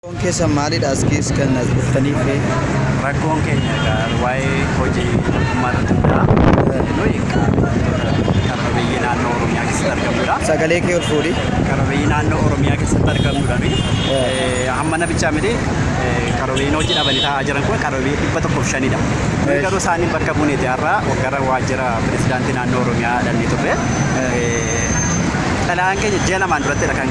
Rakkoon keessan maalidha as keessa kan as dhuftaniif? Rakkoon keenya egaa waa'ee hojii mootummaa irratti hunda'a. Nuyi egaa qabeeyyii naannoo Oromiyaa keessatti argamudha. Sagalee kee ol fuudhi. Qabeeyyii naannoo Oromiyaa keessatti argamudha nuyi. Hamma nabichaa miti qabeeyyiin hojii dhabanii taa'aa jiran kun qabeeyyii dhibba tokkoof shanidha. Nuyi garuu isaaniin bakka buuneeti har'a gara waajjira pirezidaantii naannoo Oromiyaa dhannee turre. Xalayaan keenya ji'a lamaan durattidha kan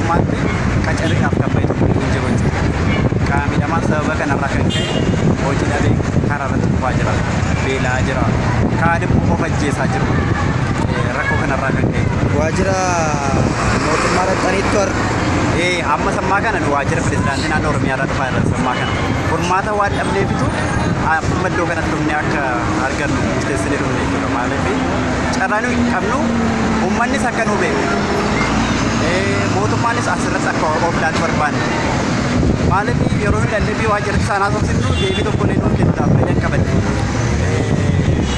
mootummaatti qacarriidhaaf kan bahe tokko hin jiru jechuudha. Qaama miidhamaa sababa kanarraa kan ka'e hojii dhabee karaa irratti kufaa jira. Beela'aa jira. Kaan immoo of ajjeesaa jiru. Eh, Rakkoo kanarraa kan ka'e. Waajjira mootummaa dhaqxaniittu har'a. Eh, amma sammaa kana nu waajjira pirezidaantii naannoo Oromiyaa irraa dhufaa irra sammaa kana. Furmaata waan dhabneefitu amma iddoo kanatti dhufnee akka argannu murteessinee dhufne jechuudha. Maaliif carraa nuyi qabnu uummannis akka nu beeku eh, mootummaanis asirratti akka of ilaalu barbaanna. Maaliif yeroo hin dandeenye waa jirti saanaa soofsifnu deebii tokko illee nuuf kennuudhaaf fedhii hin qaban.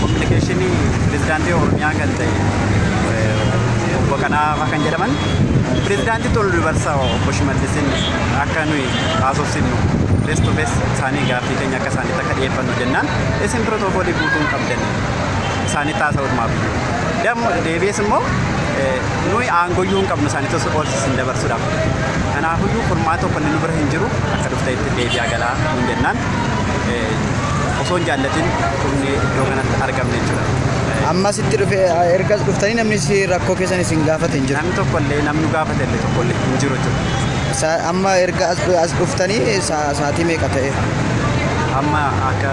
Kominikeeshinii pirezidaantii Oromiyaa kan ta'e eh, obbo Kanaafaa kan jedhaman pirezidaantii Tolu Dubarsa obbo Shimallisiin akka nuyi haasofsifnu fees to fees isaanii gaaffii keenya akka isaaniitti akka dhiyeeffannu jennaan isin pirotookoolii guutuu hin qabdan. isaanitti haasa'utu maaf iyyuu. Dammo deebi'ees immoo nuyi aangoyyuu hin qabnu isaanitti osoo qoorsis hin dabarsuudhaaf. Kanaafiyyuu furmaata tokko inni nu bira hin jiru akka dhufte itti deebi'aa galaa nuun jennaan osoo hin jaallatin dhumnee iddoo kanatti argamne jechuudha. Ammas itti dhufe erga dhuftanii namni si rakkoo keessan isin gaafate hin jiru. Namni tokko illee namni gaafate illee tokko illee hin jiru jechuudha. Sa- Amma erga as as dhuftanii sa- sa'aatii meeqa ta'e? Amma akka